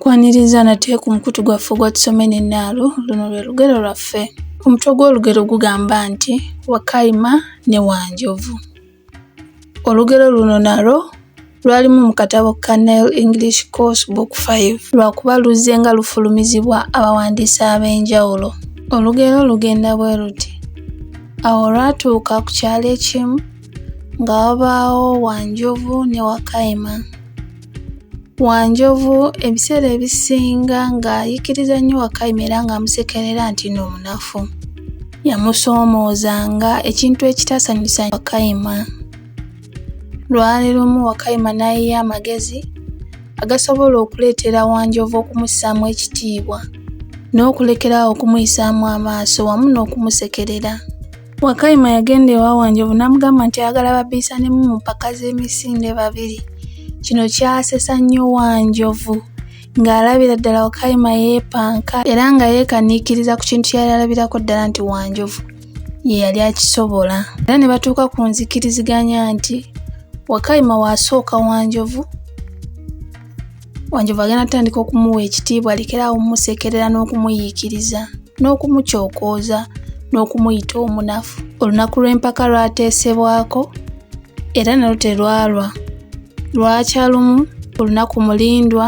Kwaniriza nate ku mukutu gwaffe ogwa Tusome n'Ennaalo, luno lwe lugero lwaffe. Omutwe gw'olugero gugamba nti Wakayima ne Wanjovu. Olugero luno nalwo lwalimu mu katabo ka Nile English Course Book 5 lwakuba luzze nga lufulumizibwa abawandiisi ab'enjawulo. Olugero lugenda bwe luti. Awo olwatuuka ku kyalo ekimu nga wabaawo Wanjovu ne Wakayima. Wanjovu ebiseera ebisinga ng'ayikiriza nnyo Wakayima era ng'amusekerera nti no munafu. Yamusoomoozanga ekintu ekitasanyusa Wakayima. Lwali lumu Wakayima n'ayiya amagezi agasobola okuleetera Wanjovu okumussaamu ekitiibwa n'okulekerawo okumuyisaamu amaaso wamu n'okumusekerera. Wakayima yagenda ewa Wanjovu n'amugamba nti ayagala babiisanemu mu mpaka z'emisinde babiri. Kino kyasesa nnyo Wanjovu ng'alabira ddala Wakayima yeepanka era nga yeekaniikiriza ku kintu kyeyali alabirako ddala nti Wanjovu ye yali akisobola. Era ne batuuka ku nzikiriziganya nti Wakayima waasooka Wanjovu wanjovu agenda atandika okumuwa ekitiibwa lekeraawo omumusekerera n'okumuyiikiriza n'okumukyokooza n'okumuyita omunafu olunaku lw'empaka lwateesebwako era nalo terwalwa lwakya lumu olunaku mulindwa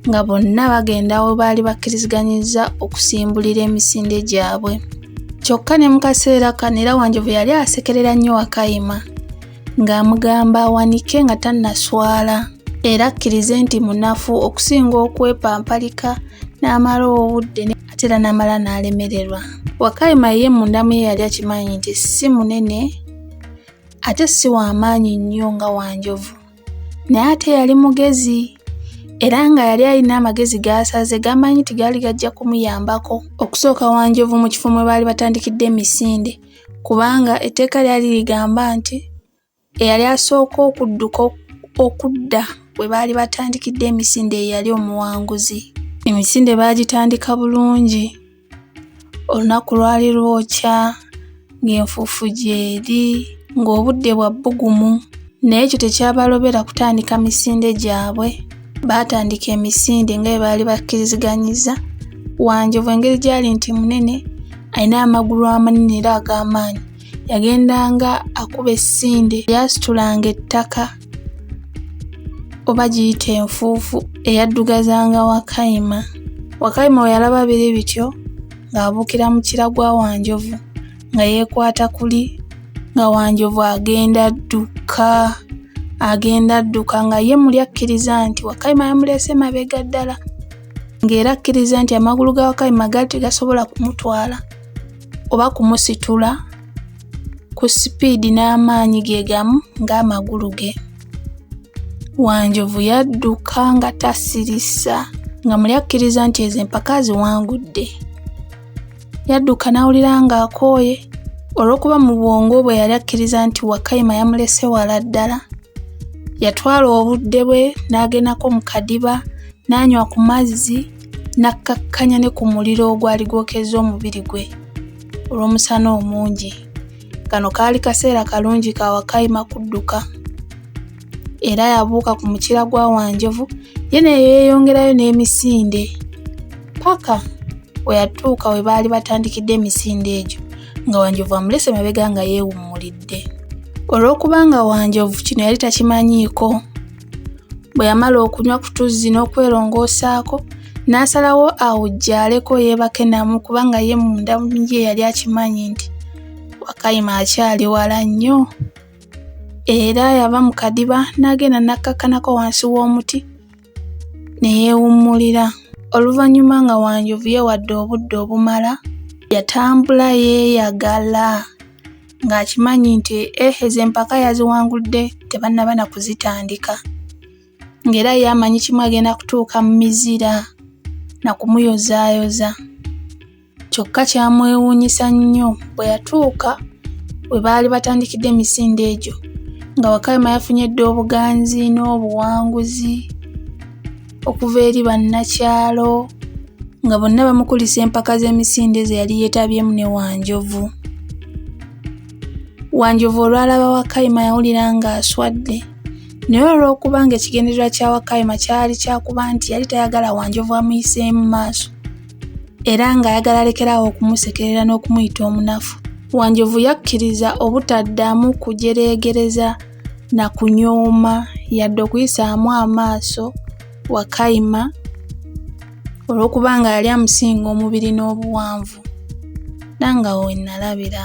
nga bonna bagenda we baali bakkiriziganyizza okusimbulira emisinde gyabwe kyokka ne mu kaseera kano era wanjovu yali asekerera nnyo wakayima ng'amugamba awanike nga tannaswala era akkirize nti munafu okusinga okwepampalika n'amala obudde ate era n'amala n'alemererwa wakayima ye mundamu ye yali akimanyi nti si munene ate si w'amaanyi nnyo nga wanjovu naye ate yali mugezi era nga yali alina amagezi gaasaze gamanyi nti gaali gajja kumuyambako okusooka wanjovu mu kifo mwe baali batandikidde emisinde kubanga etteeka lyali ligamba nti eyali asooka okudduka okudda we baali batandikidde emisinde eyali omuwanguzi emisinde baagitandika bulungi olunaku lwali lwokya ng'enfuufu gyeri ng'obudde bwa bbugumu Naye ekyo tekyabalobera kutandika misinde gyabwe. Baatandika emisinde nga bwe baali bakkiriziganyizza. Wanjovu engeri gy'ali nti munene, alina amagulu amanene era ag'amaanyi, yagendanga akuba essinde lyasitulanga ettaka oba giyita enfuufu eyaddugazanga Wakayima. Wakayima bwe yalaba biri bityo ng'abuukira mu kira gwa Wanjovu. nga yeekwata kuli nga wanjovu agenda dduka agenda dduka nga ye muli akkiriza nti wakayima yamuleese mabega ddala ng'era akkiriza nti amagulu ga wakayima gaali tegasobola kumutwala oba kumusitula ku sipiidi n'amaanyi ge gamu ng'amagulu ge wanjovu yadduka nga tasirisa nga muli akkiriza nti ezo empaka ziwangudde Yadduka n'awulira ng'akooye olw'okuba mu bwongo bwe yali akkiriza nti Wakayima yamulese wala ddala. Yatwala obudde bwe n'agendako mu kadiba n'anywa ku mazzi n'akkakkanya ne ku muliro ogwali gwokezza omubiri gwe olw'omusana omungi. Kano kaali kaseera kalungi ka Wakayima kudduka. era yabuuka ku mukira gwa Wanjovu ye ne yeeyongerayo n'emisinde paka we yatuuka we baali batandikidde emisinde egyo nga Wanjovu amulese mabega nga yeewummulidde. Olw'okuba nga Wanjovu kino yali takimanyiiko, bwe yamala okunywa ku tuzzi n'okwelongoosaako n'asalawo awujjaaleko yeebake namu kubanga ye munda ye yali akimanyi nti Wakayima akyali wala nnyo. Era yava mu kadiba n'agenda n'akkakkanako wansi w'omuti ne yeewummulira. Oluvannyuma nga Wanjovu yeewadde obudde obumala, yatambula yeeyagala ng'akimanyi nti eh, ezo empaka yaziwangudde tebannaba na kuzitandika ng'era ye amanyi kimu agenda kutuuka mu mizira na kumuyozaayoza. kyokka kyamwewuunyisa nnyo bwe yatuuka we baali batandikidde emisinde egyo nga wakayima yafunye dda obuganzi n'obuwanguzi okuva eri bannakyalo nga bonna bamukulisa empaka z'emisinde ze yali yeetabyemu ne wanjovu wanjovu olwalaba wakayima yawulira ng'aswadde naye olw'okuba ng'ekigendererwa kya wakayima kyali kyakuba nti yali tayagala wanjovu amuyiseemu maaso era ng'ayagala alekeraawo okumusekerera n'okumuyita omunafu. Wanjovu yakkiriza obutaddamu kujereegereza na kunyooma yadde okuyisaamu amaaso Wakayima olw'okuba nga yali amusinga omubiri n'obuwanvu. Nangawo we nnalabira.